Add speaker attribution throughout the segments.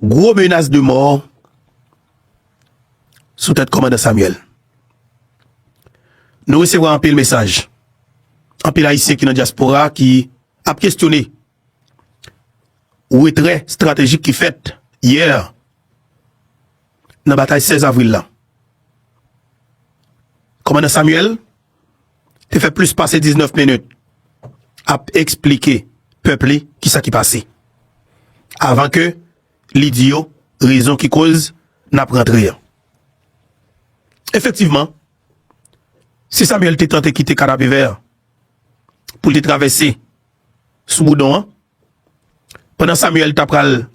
Speaker 1: Gwo menas de mò sou tèt kòmandan Samuel. Nou resevwa anpil mesaj, anpil ayisyen ki nan dyaspora ki ap kestyone retrè estratejik ki fèt yè. Nan batay 16 avril la, kòmandan Samuel te fè plis pase 19 minit ap esplike pèp li ki sa ki pase, avan ke li di yo rezon ki koz n ap rantre an. Efektivman, si Samuel te tante kite Kanapevè pou l te travèse sou Boudon an, Pandan Samuel ta pral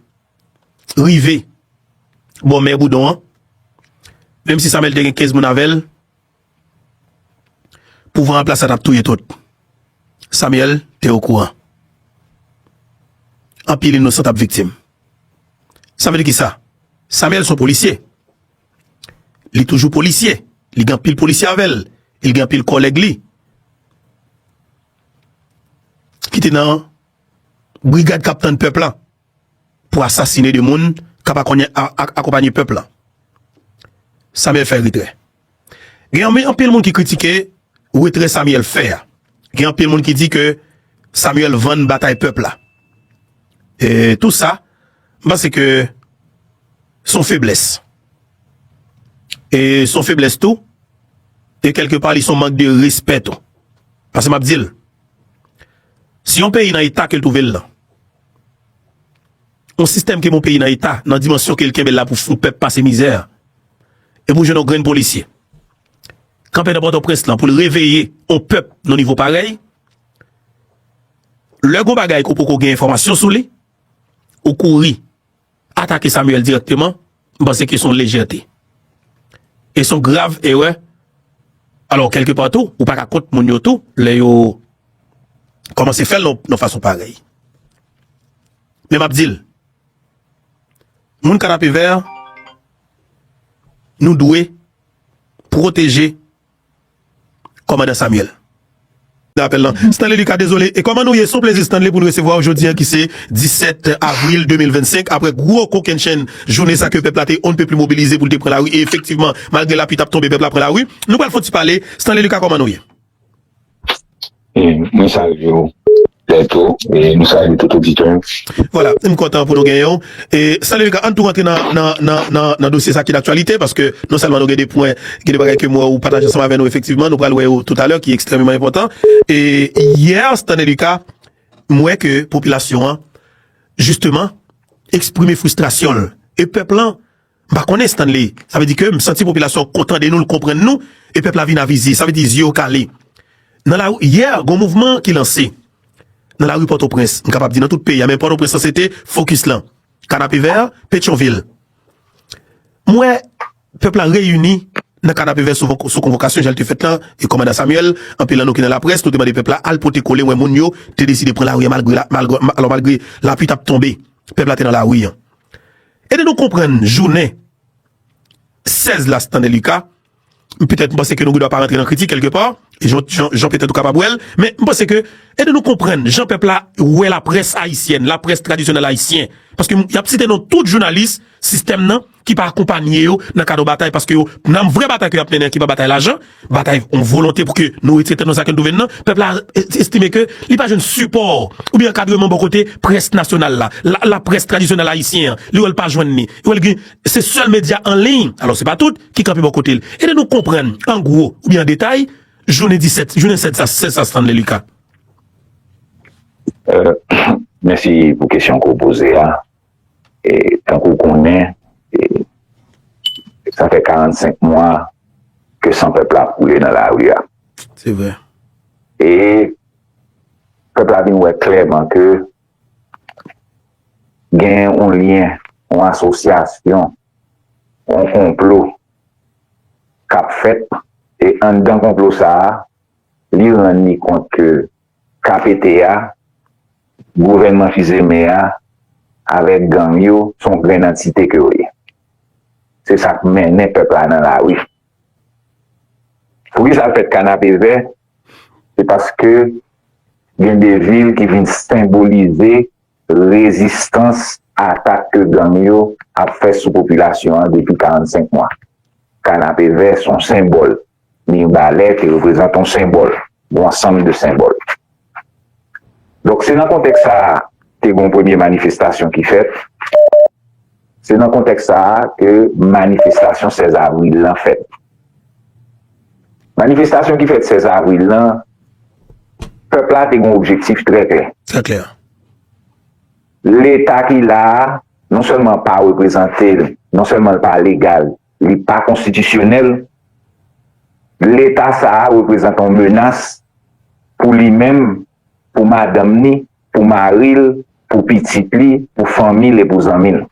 Speaker 1: rive bò mè Boudon an, menm si Samuel te gen 15 moun avè l, pouvwa anplas la t ap touye tout. Samuel te okouran. Anpil inosan t ap viktim. Sa vle di ki sa? Samuel se yon polisye. Li toujou polisye. Li gen anpil polisye avè l. Li gen anpil kòlèg li. ki te nan brigad kap tann pèp la pou asasine de moun kap akonpanye pèp la. Samuel fè retrè. Gen anpil moun ki kritike retrè Samuel fè a. Gen anpil moun ki di ke Samuel vann batay pèp la. E tou sa. M panse ke se yon feblès. E se yon feblès tou, e kèlke pa li se yon mank de respè tou. Pase m ap di l, si yon peyi nan eta ke l twouve l lan, yon sistèm ke yon peyi nan eta, nan dimansyon ke l kenbe l la pou fout pèp pase mizè, e pou jwenn yon grenn polisye, kanpe nan Pòtoprens lan pou l reveye yon pèp nan nivo parèy, lè gen yon bagay ke w poko gen enfòmasyon sou li, Ou kouri atake Samuel dirèkteman, m panse ke son lejète. E son grav erè. Alò, kelke pa tou, ou pa ka kont moun yo tou, lè yo kòmanse fè l nan fason parèy. Men m ap di l, moun Kanapevè, nou dwe pwoteje Kòmandan Samuel. Nan apèl lan, Stanley Lucas dezole e kòman nou ye? Son plezi Stanley pou n resevwa w jodi an ki se 17 avril 2025 apre gwo kokennchenn jounen sa ke pèp la te on ne peut plus mobilize pou l te pran lari e efektivman malgre lapli t ap tonbe pèp la pran lari. Nou pral fon ti pale, Stanley Lucas kòman nou ye?
Speaker 2: Mwen salye ou Bertho e nou salye tout oditè yo. Vwala, m kontan
Speaker 1: pou nou genyen w. E Salut Lucas, ann tou rantre nan dosye sa ki daktyalite, paske non sèlman nou gen 2 pwen, gen 2 bagay ke m wè ou pataje ansanm avè nou efektivman, nou pral wè yo toutalè ki ekstrememan enpòtan. E yè Stanley Lucas, m wè ke popilasyon an jisteman eksprime fristrasyon l. E pèp lan M pa konnen Stanley, sa vle di ke m santi popilasyon ko tande nou, l konprann nou e pèp la vin avize, sa vle di zye yo kale. Nan la, yè gon mouvman ki lanse nan lari Pòtoprens, m kapab di nan tout peyi a men Pòtoprens lan se te fokis lan, Kanapevè, Petyonvil. M wè pèp la reyini nan Kanapevè sou konvokasyon jan l te fèt lan, e kòmandan Samuel, anpil nan nou ki nan laprès, nou te mande pèp la al pote kole, m wè moun yo te deside pran lari an malgre, alò malgre lapui t ap tonbe, pèp la te nan lari an. Ede nou konprann jounen 16 la Stanley Lucas M petèt m panse ke nou gen dwa pa rantre nan kritik kèlke pa Jan petèt ou kapab wè l Men m panse ke Ede nou konprann jan pèp la wè laprès ayisyèn Laprès tradisyonèl ayisyen Paske y ap site non tout jounalis sistèm nan Ki pa akonpanye yo nan kad yon batay Paske yo nan vrè batay ke y ap mennen Ki pa batay lajan Batay yon volonte pou ke nou retire tèt nou nan sa ke nou twouve nou nan, pèp la estime ke li pa jwenn sipò oubyen ankadreman bò kote près nasyonal la, laprès tradisyonèl ayisyen an, li wè l pa jwenn ni, li wè l gen, se sèl medya an liy, alò se pa tout, ki kanpe bò kote l. Ede nou konprann an gwo oubyen an detay jounen 17, jounen 16 sa, 16 sa Stanley Lucas.
Speaker 2: Mèsi pou kesyon ke w poze a. e tankou w konnen e sa fè 45 mwa ke san pèp la ap koule nan lari a. Se
Speaker 1: vre. E
Speaker 2: pèp la vin wè klèman ke gen yon lyen, yon asosyasyon, yon konplo k ap fèt e anndan konplo sa a li rann li kont ke KPT a, gouvènman Fizeme a avèk gang yo se yon grenn antite ke yo ye. Se sa k mennen pèp la nan lari. Poukisa l fèt Kanapevè? Se paske gen de vil ki vin senbolize Rezistans a atak ke gang yo ap fè sou popilasyon an depi 45 mwa. Kanapevè se yon senbòl. Mirbalè te reprezante yon senbòl, yon ansanm de senbòl. Donk se nan kontèks sa a te gen yon premye manifestasyon ki fèt. Se nan kontèks sa a ke manifestasyon 16 avril lan fèt. Manifestasyon ki fèt 16 avril lan, pèp la te gen objektif trè klè. Trè klè.
Speaker 1: Leta
Speaker 2: ki la a, non sèlman pa reprezante l, non sèlman l pa legal, li pa konstitisyonèl, Leta sa a reprezante yon menas pou li menm pou madanm ni, pou mari l, pou pitit li, pou fanmi l e pou zanmi l.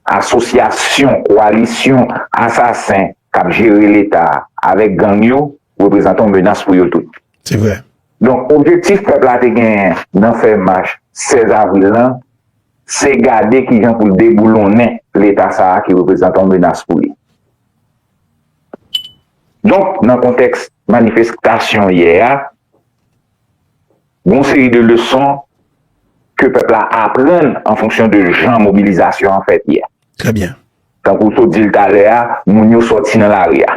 Speaker 2: Asosyasyon, koalisyon, asasen k ap jere leta avèk gang yo reprezante yon menas pou yo tout.
Speaker 1: Donk objektif
Speaker 2: pèp la te genyen nan fè mach 16 avril lan se gade kijan pou l deboulonnen leta sa a ki reprezante yon menas pou li. Donk, nan kontèks manifestasyon yè a, gon seri de leson ke pèp la aprann an fonksyon de jan mobilizasyon an fèt yè. Trè byen.
Speaker 1: Tankou w sot di l
Speaker 2: talè a, moun yo sòti nan lari a.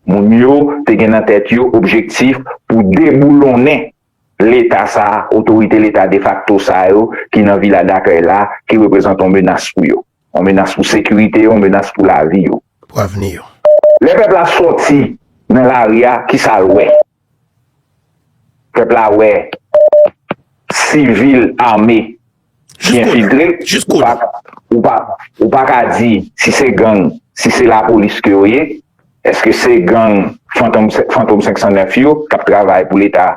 Speaker 2: Moun yo te gen nan tèt yo objektif pou deboulonnen Leta sa, otorite Leta defakto sa yo ki nan Vila Dakèy la, ki reprezante yon menas pou yo. Yon menas pou sekirite yo, yon menas pou lavi yo. Pou avni yo.
Speaker 1: Lè pèp la
Speaker 2: sòti nan lari a, ki sa l wè? Pèp la wè sivil ame ki enfiltre. Ou pa ka di si se gang, si se lapolis ke yo ye. Eske se gang Fantom 509 yo k ap travay pou Leta?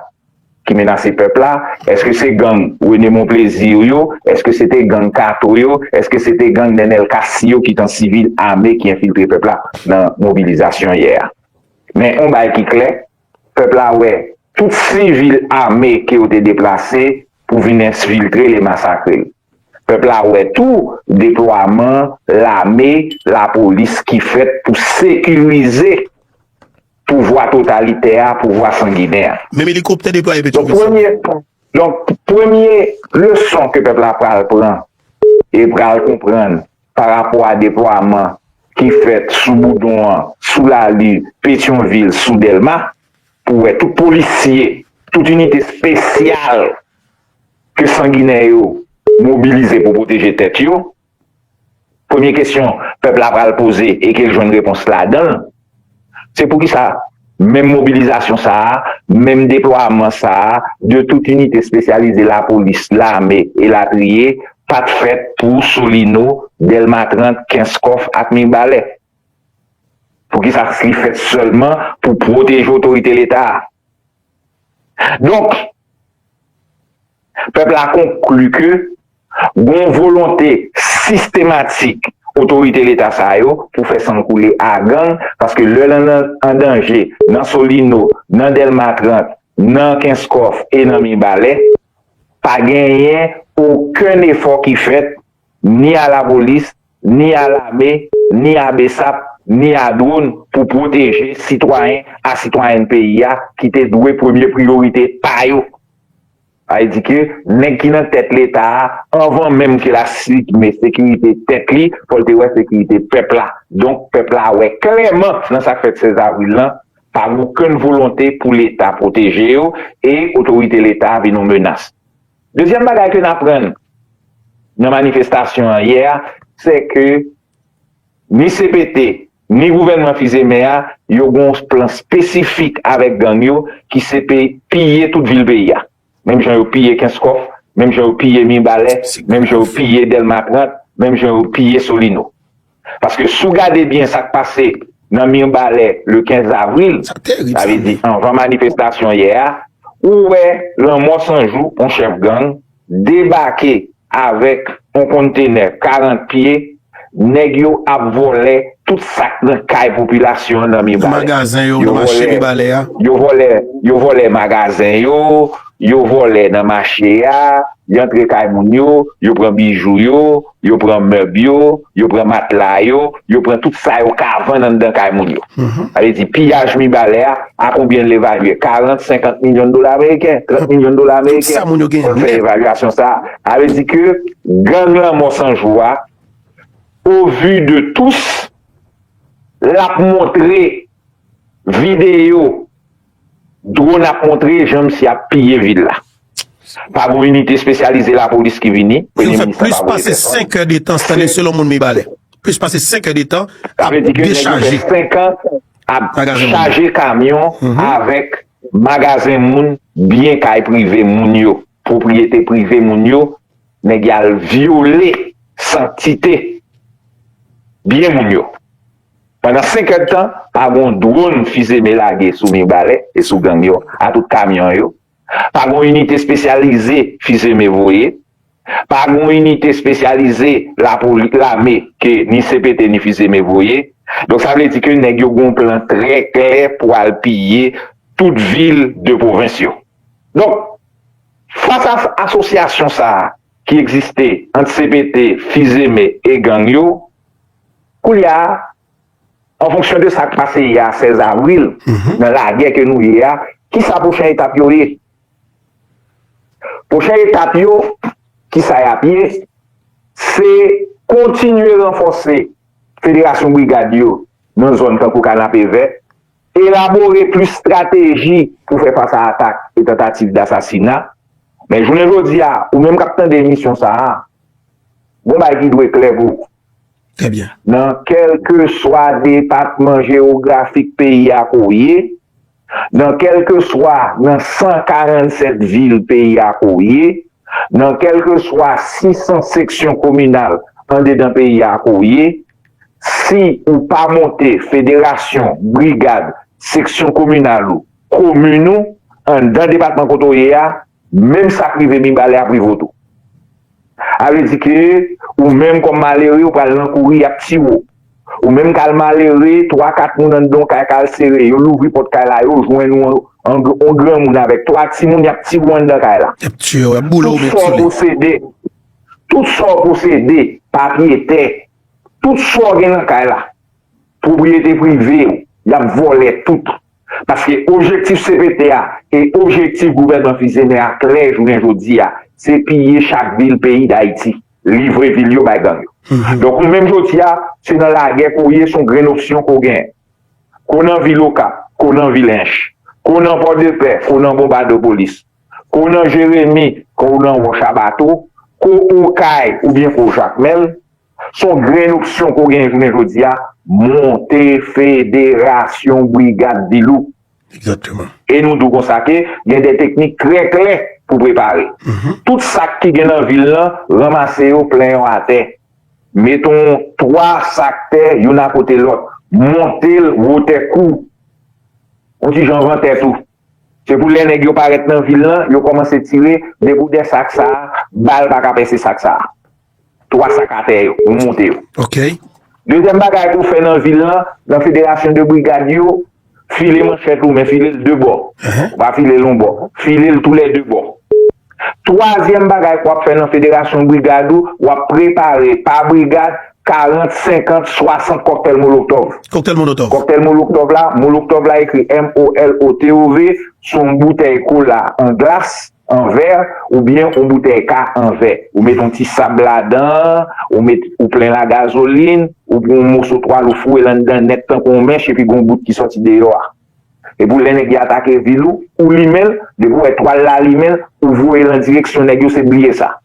Speaker 2: ki menase pèp la, eske se gang Rene Monplezi yo yo, eske se te gang Kato yo, eske se te gang Nenel Cassy yo ki t an sivil ame ki enfiltre pèp la nan mobilizasyon yè a. Men on bagay ki klè, pèp la wè tout sivil ame ke yo te deplase pou vin ensfiltre l e masakre l. Pèp la wè tou deplwaman lame, lapolis ki fèt pou sekirize pouvwa totalitè a, pouvwa sanginè a. Menm elikoptè deplwaye
Speaker 1: Petrovizyon. Donk premye,
Speaker 2: donk premye leson ke pèp la pral pran e pral konprann pa rapò a deplwaman ki fèt sou Boudon an, sou Lali, Petyonvil, sou Dèlma, pou wè tout polisye, tout inite espesyal ke sanginè yo mobilize pou pwoteje tèt yo, Premye kesyon pèp la pral poze e ke l jwenn repons ladan l, se poukisa menm mobilizasyon sa a, menm deplwaman sa a de tout inite espesyalize lapolis, lame, elatriye, pa t fèt pou Solino, Dèlma 30, Kenskòf ak Mirbalè? Poukisa li fèt sèlman pou pwoteje otorite Leta a? Donk, pèp la konkli ke gon volonte sistematik otorite leta sa yo pou fè san koule a gang, paske lè lan an danje nan Solino, nan Dèlma 30, nan Kenskòf e nan Mibalè, pa genyen okenn efò ki fèt ni a lapolis, ni a lame, ni a bsap, ni a dwon pou pwoteje sitwayen a sitwayèn peyi a ki te dwe premye priyorite pa yo. Sa vle di ke nèg ki nan tèt leta a anvan menm ke la sikime sekirite tèt li fò l te wè sekirite pèp la. Donk pèp la wè klèman nan sa k fèt 16 avril lan pa gen okenn volonte pou leta pwoteje yo e otorite leta vin yon menas. Dezyèm bagay ke n aprann nan manifestasyon an yè a, sè ke ni cpt, ni gouvènman Fils-Aimé a, yo gen yon plan espesifik avèk gang yo, ki se pe piye tout vil peyi a. Menm jan yo piye Kenskòf, menm jan yo piye Mibalè, menm jan yo piye Dèlma 30, menm jan yo piye Solino. Paske si w gade byen sa k pase nan Mirbalè le 15 avril, sa vle di anvan manifestasyon yè a, ou wè Lanmò 100 jou, yon chèf gang, debake avèk yon konntenè 40 pye, nèg yo ap vòlè tout sa k nan kay popilasyon an nan Mirbalè.
Speaker 1: Yo vòlè,
Speaker 2: yo vòlè magazen yo, yo vòlè nan mache a, yo antre kay moun yo, yo pran bijou yo. Yo pran mèb yo, yo pran matla yo, yo pran tout sa yo ka vann anndan kay moun yo. Sa vle di piyaj Mibalè a, a konbyen l evalye? 40, 50 milyon dola ameriken, 30 milyon dola ameriken. Fòn fè
Speaker 1: evalyasyon sa
Speaker 2: a. Sa vle di ke gang lanmò 100 jou a, o vu de tous, l ap montre videyo Drone ap montre jan misye ap piye vil la. Pa gon inite espesyalize lapolis ki vini, Premye Minis la pa
Speaker 1: voye pèsòn. Yo fè plis pase 5 è de tan, Stanley, selon moun Mibalè. Plis pase 5 è de tan ap dechaje. Sa vle di ke nèg yo fè 5 an
Speaker 2: ap chaje kamyon avèk magazen moun, byen kay prive moun yo, pwopriyete prive moun yo, nèg y al vyole santite byen moun yo. Pandan 5 èd tan, pa gon dwon fizeme lage sou Mirbalè e sou gang yo a tout kamyon yo, pa gon inite spesyalize fizeme voye, pa gon inite espesyalize lapoli, lame ke ni cpt ni fizeme voye. Donk sa vle di ke nèg yo gon plan trè klè pou al piye tout vil de pwovens yo. Donk, fas a asosyasyon sa a ki egziste ant cpt, fizeme e gang yo, Koulye a, an fonksyon de sa k pase yè 16 avril, nan lagè ke nou ye a, ki sa pwochen etap yo ye? Pwochen etap yo, ki sa y ap ye, se kontinye ranfòse federasyon brigad yo nan zòn tankou Kanapevè, elabore plis estrateji pou fè fas a atak e tantativ dasasina. Men jounen jodi a, ou menm k ap tande emisyon sa a, gon bagay ki dwe klè pou ou. Trè byen.
Speaker 1: Nan kèlkeswa
Speaker 2: depatman jewografik peyi a ke w ye, nan kèlkeswa nan 147 vil peyi a ke w ye, nan kèlkeswa 600 seksyon kominal andedan peyi a ke w ye, si ou pa monte federasyon, brigad, seksyon kominal ou, komin ou, anndan depatman kote w ye a, Menm sa k rive Mibalè ap rive w tou. A vle di ke ou menm kòm malere ou pral nan kouri y ap tiye w. Ou menm k al malere, twa kat moun anndan w kay k al sere. Yo louvri pòt kay la, yo jwenn ou yon granmoun avèk twa timoun y ap tiye w anndan kay la. Y ap tiye w, y ap boule w menm
Speaker 1: sou li. Tout
Speaker 2: sa w posede, papye, tè, tout sa w gen nan kay la, pwopriyete prive w, y ap vòlè tout. Paske objektif cpt a e objektif gouvènman Fils-Aimé a klè jounen jodi a, se piye chak vil peyi Dayiti, livre vil yo bay gang yo. Donk ou menm jodi a, se nan lagè ke w ye, se yon grenn opsyon ke w genyen. Ke w nan vil Okap, ke w nan vil Ench, ke w nan Pòdepè, ke w nan Bonbadopolis, ke w nan Jeremi, ke w nan Wòch a Bato, ke w Okay oubyen ke w Jakmèl, Son grenn opsyon ke w genyen jounen jodi a, monte federasyon brigad Dilouk. Exactement.
Speaker 1: E nou di w konsa
Speaker 2: ke gen de teknik trè klè pou prepare. Tout sak ki gen nan vil lan, ranmase yo, plen yo atè. Mete yon 3 sak tè youn akote lòt. Monte l wotè kou w. Yon ti jan van tèt ou. Se pou lè nèg yo parèt nan vil lan, yo kòmanse tire, depi w dè sak sa a, bal pa ka pèse sak sa a. 3 sak atè yo, nou moute yo. Ok.
Speaker 1: Dezyèm bagay
Speaker 2: pou fè nan vil lan, nan federasyon de brigad yo, file manchèt ou men file l 2 bò. Ou pa file l yon bò. File l tou lè 2 bò. Twazyèm bagay wap fè nan federasyon brigad ou, wap prepare pa brigad 40, 50, 60 kòktèl moloktòv. Kòktèl molotòv. Kòktèl
Speaker 1: moloktòv la,
Speaker 2: moloktòv la ekri MOLOTOV sou yon boutèy kola an glace. an vè ou byen yon boutèy ka an vè ou met yon ti sab ladan ou met ou plen la gazolin ou pran yon moso twal ou foure l anndan nèt tankou yon mèch epi gon bout ki sòti deyò a epou lè nèg yo atake vil ou ou limen l depi w wè twal la limen ou voye l an direksyon nèg yo se bliye sa.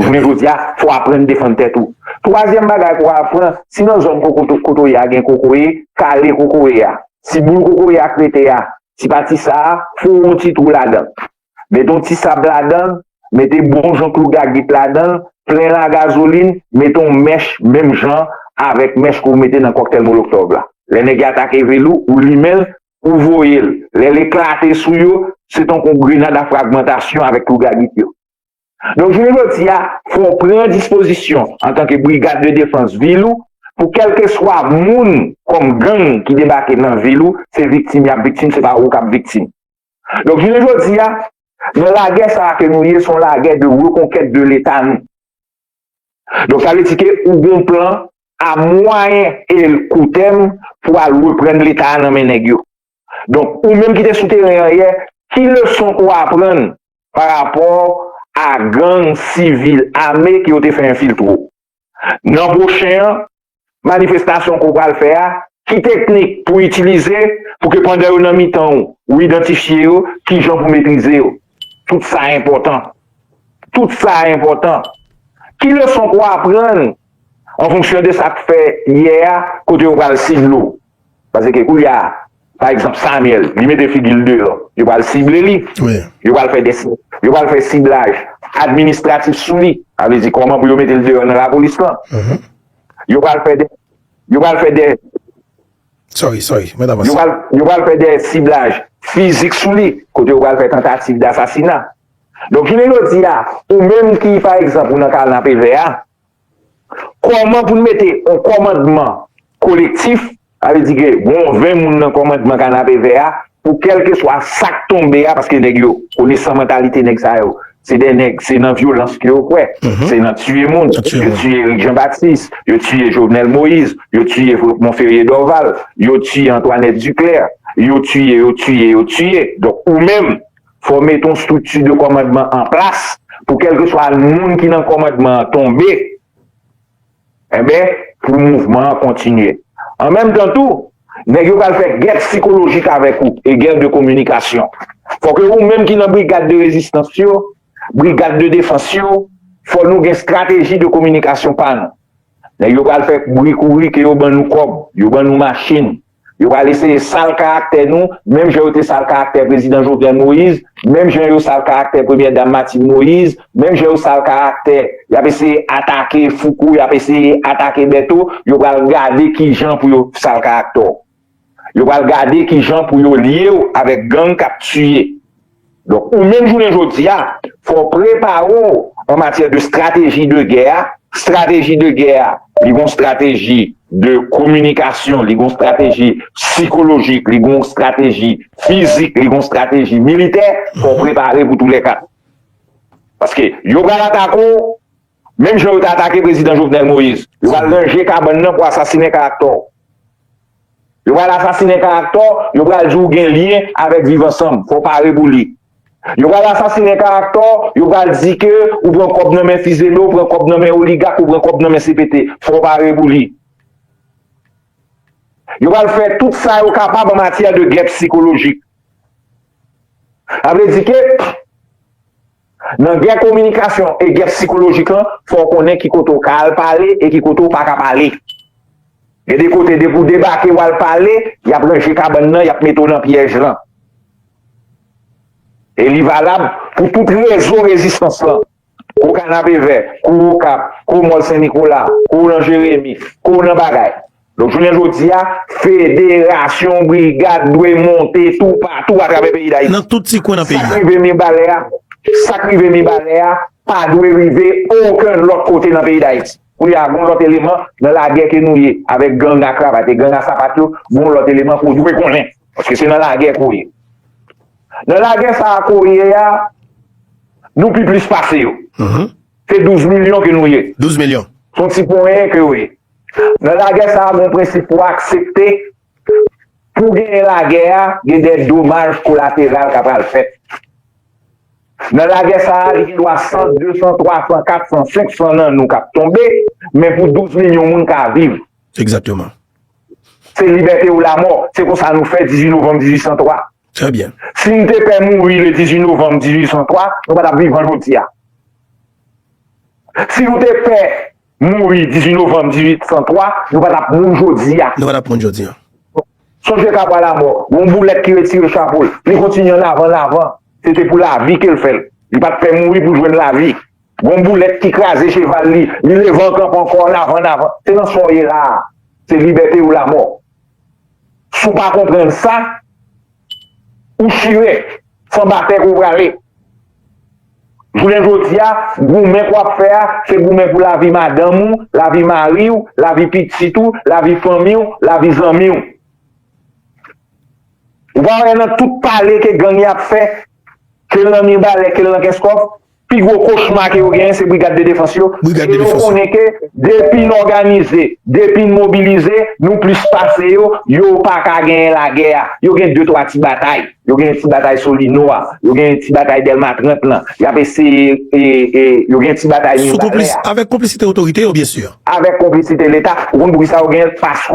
Speaker 2: Jounen jodi a, fò w aprann defann tèt ou. Twazyèm bagay pou w apran, si nan zòn kote w ye a gen kokoye, kale kokoye a. Si boul kokoye a krete a, ti pati sa a, fouwe yon ti twou ladan l. Mete yon ti sab ladan l, mete bon jan klou gagit ladan l, plen l a gazolin, mete yon mèch menm jan avèk mèch ke w mete nan kòktèl moloktòv la. Lè nèg yo atake vil ou, ou limen l, ou voye l. Lè l eklate sou yo, se tankou yon grenad a fragmantasyon avèk klou gagit yo. Donk jounen jodi a, fò w pran dispozisyon antanke brigad de defans vil ou pou kèlkeswa moun kòm gang ki debake nan vil ou, se viktim y ap viktim, se pa ou k ap viktim. Donk jounen jodi a, nan lagè sa a ke nou ye, se yon lagè de rekonkèt de Leta nou. Donk sa vle di ke ou gen yon plan a mwayen e koutèm pou al reprann Leta a nan men nèg yo. Donk, ou menm ki te sou teren an yè, ki leson ou aprann pa rapò a gang sivil ame ke yo te fè enfiltre ou? Nan pwochen an, manifestasyon ke ou pral fè a, ki teknik pou itilize pou ke pandan yo nan mitan ou, ou idantifye yo, ki jan pou metrize yo? Tout sa enpòtan. Tout sa enpòtan. Ki leson ke ou aprann an fonksyon de sa k fè yè a kote yo pral sidle ou? Paske koulye a, pa egzanp Samyèl, li mete figi l deyò, yo pral sible li, yo pral fè
Speaker 1: des,
Speaker 2: yo pral fè siblaj administratif sou li, sa vle di kòman pou yo mete l deyò nan lapolis lan. Yo pral fè de, yo pral fè de. Sorry,
Speaker 1: sorry, mèt avanse. Yo pral, yo pral fè de
Speaker 2: siblaj fizik sou li, kote yo pral fè tantativ dasasina. Donk jounen jodi a, ou menm ki pa egzanp ou nan kanapevè a, Kòman pou n mete yon kòmandman kolektif, sa vle di ke gen yon 20 moun nan kòmandman kanapevè a pou kèlkeswa sa k tonbe a, paske nèg yo, konesan mantalite nèg sa yo, se de nèg, se nan vyolans ke yo kwè, se nan tiye moun, yo tiye Erik Jan Batis, yo tiye Jovenel Moïse, yo tiye Monferrier Dorval, yo tiye Antoinette Duclaire, yo tiye, yo tiye, yo tiye, donk ou menm, Fò w mete yon strikti de kòmandman an plas pou kèlkeswa moun ki nan kòmandman an tonbe, enben, pou mouvman an kontinye. An menm tan tou, nèg yo pral fè gè psikolojik avèk ou e gè de kominikasyon. Fò ke ou menm ki nan brigad de rezistans yo, brigad de defans yo, fò nou gen strateji de kominikasyon pa nou. Nèg yo pral fè bri kouri ke yo ban nou kòb, yo ban nou machin. Yo pral eseye sal karaktè nou, menm jan yo te sal karaktè Prezidan Jovenel Moïse, menm jan yo sal karaktè Premyè Dam Martine Moïse, menm jan yo sal karaktè. Y ap eseye atake Fouco, y ap eseye atake Bertho, yo pral gade ki jan pou yo sal karaktè w. Yo pral gade ki jan pou yo lye w avèk gang k ap tiye. Donk ou menm jounen jodi a, fò w prepare w an matyè de strateji de gè a, strateji de gè a li gon strateji de kominikasyon, li gon strateji sikolojik, li gon strateji fizik, li gon strateji militè, fò w prepare pou tou lè 4. Paske yo pral atake w. Menm jan yo te atake prezidan Jovenel Moïse, yo pral ranje kabann nan pou asasinen karaktè w. Yo pral asasinen karaktè w, yo pral di w gen lyen avèk Viv Ansanm, fò w pare pou li. Yo pral asasinen karaktè w, yo pral di ke ou pran kòb nan men Fizeme, ou pran kòb nan men oligak, ou pran kòb nan men CPT, fò w pare pou li. Yo pral fè tout sa yo kapab an matyè de gè psikolojik. Sa vle di ke. Nan gè kominikasyon e gè sikolojik lan, fò w konnen ki kote w ka al pale e ki kote w pa ka pale. Gen de kote depi w debake w al pale, y ap ranje kabann nan, y ap mete w nan pyèj lan. E li valab pou tout rezo rezistans lan. Kou Kanapevè, kou Okap, kou Mòl Sen Nikola, kou w nan Jeremi, kou w nan bagay. Donk jounen jodi a, federasyon brigad dwe monte toupatou atravè peyi Dayiti. Nan tout ti kwen nan peyi a. Sa k
Speaker 1: rive Mibalè a, sa k rive
Speaker 2: Mibalè a pa dwe rive okenn lòt kote nan peyi Dayiti. Koulye a, gon lòt eleman nan lagè ke nou ye avèk gang a kravat e gang a sapat yo, gon lòt eleman ke w dwe konnen. Paske se nan lagè ke w ye. Nan lagè sa a ke w ye a, nou pi plis pase yo. Se 12 milyon ke nou ye. 12 milyon. Se yon ti
Speaker 1: ponyen
Speaker 2: ke yo ye. Nan lagè sa a gen prensip pou aksepte pou genyen lagè a gen de domaj kolateral ka pral fèt. Nan lagè sa a li gen dwa 100, 200, 300, 400, 500 nan nou k ap tonbe men pou 12 milyon moun ka viv. Egzakteman. Se libète ou lamò. Se konsa nou fè 18 novanm 1803. Trè byen.
Speaker 1: Si nou te pè mouri
Speaker 2: le 18 novanm 1803, nou pa t ap vivan jodi a. Si nou te pè. Mouri 18 novanm 1803, nou pa t ap moun jodi a. Nou pa t ap moun jodi a.
Speaker 1: Sonje
Speaker 2: Kabwa Lamò, yon boulèt ki retire chapo l, li kontinye an avan, an avan. Se te pou lavi ke l fè l. Li pa t pè mouri pou l jwenn lavi. Yon boulèt ki kraze cheval li, li leve an kanpe ankò, an avan, an avan. Se nan sa w ye la a. Se libète ou lamò. Si w pa konprann sa. ou chire, san batèk ou prale. Jounen jodi a, goumen k w ap fè a, se goumen pou lavi madanm ou, lavi mari w, lavi pitit ou, lavi fanmi w, lavi zanmi w. Ou pa wè nan tout pale ke gang y ap fè, ke l nan Mibalè, ke l nan Kenskòf, Pi gwo kochma ke yo genyen se brigad de defans yo, e yo konnen
Speaker 1: ke depi
Speaker 2: n òganize, depi n mobilize, nou plis pase yo, yo pa ka genyen lagè a. Yo gen de twa ti batay. Yo genyen ti batay Solino a, yo genyen ti batay Dèlma 30 lan. Y ap eseye e, e, yo genyen ti batay Mibalè a. Avèk konplisite otorite yo, byensi. Avèk konplisite Leta.
Speaker 1: Ou konn
Speaker 2: poukisa yo genyen l? Paske.